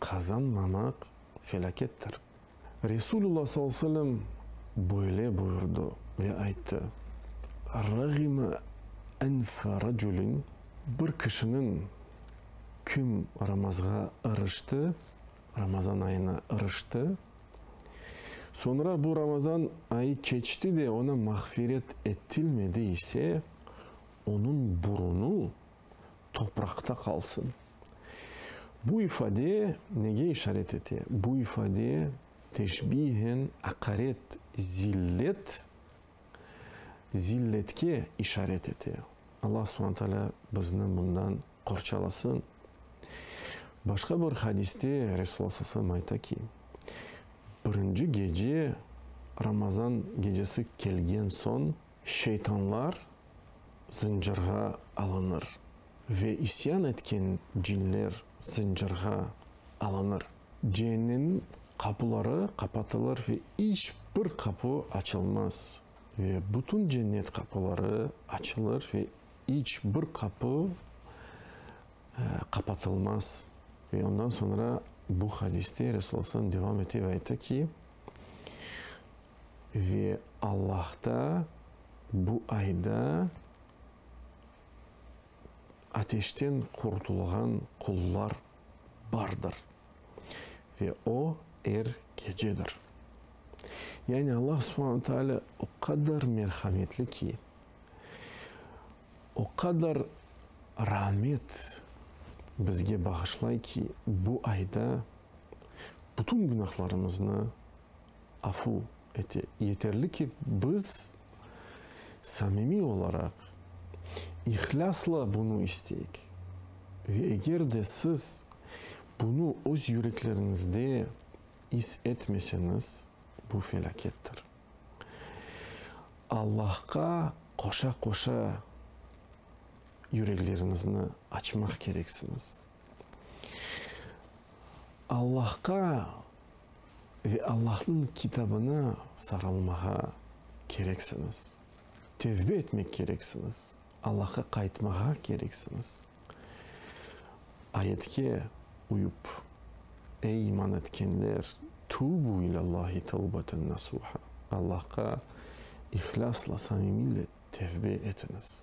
Qazanmamaq felâkettir. Resulullah sallallahu aleyhi ve sellem böyle buyurdı ve ayttı, Râğime enfe racülin, Bir kişiniñ, kim ramazğa irişti, Ramazan ayına irişti, soñra bu Ramazan ayı keçti de, oña mağfiret ettilmedi ise, onıñ burunı topraqta qalsın. Bu ifade nege işaret ete? Bu ifade teşbihen aqaret, zillet, zilletke işaret ete. Alla subhane taalâ bizni bundan qorçalasın. Başqa bir hadiste Resul Alla sallallahu aleyhi ve sellem ayta ki, birinci gece, Ramazan gecesi kelgen soñ, Şeytanlar zıncırğa alınır, ve isyan etken cinler zıncırğa alınır. Ceennemniñ qapuları qapatılır ve iç bir qapu açılmaz, ve bütün cennet qapuları açılır ve iç bir qapu qapatılmaz. Ve ondan soñra bu hadiste Resul sallallahu aleyhi ve sellem devam ete ve ayta ki, Ve Allahta bu ayda ateşten qurtulğan qullar bardır, ve o er gecedir. Yani Allah Subhanahu Taalâ o qadar merhametli ki, o qadar rahmet bizge bağışlay ki, bu ayda bütün günahlarımıznı Afu ete, yeterli ki, biz samimiy olaraq, ihlâsla bunı isteyik. Ve eger de siz bunı öz yürekleriñizde is etmeseñiz, bu felâkettir. Allahqa qoşa-qoşa yürekleriñizni açmaq kereksiñiz. Allahqa Ve Allahnıñ Kitabına sarılmağa kereksiñiz. Tevbe etmek kereksiñiz. Allahqa qaytmağa kereksiñiz. Ayetke uyıp, Ey iman etkenler, tubu ilâllâhi tevbeten nasuha, Allahqa ihlâsla, samimiyle tevbe etiñiz.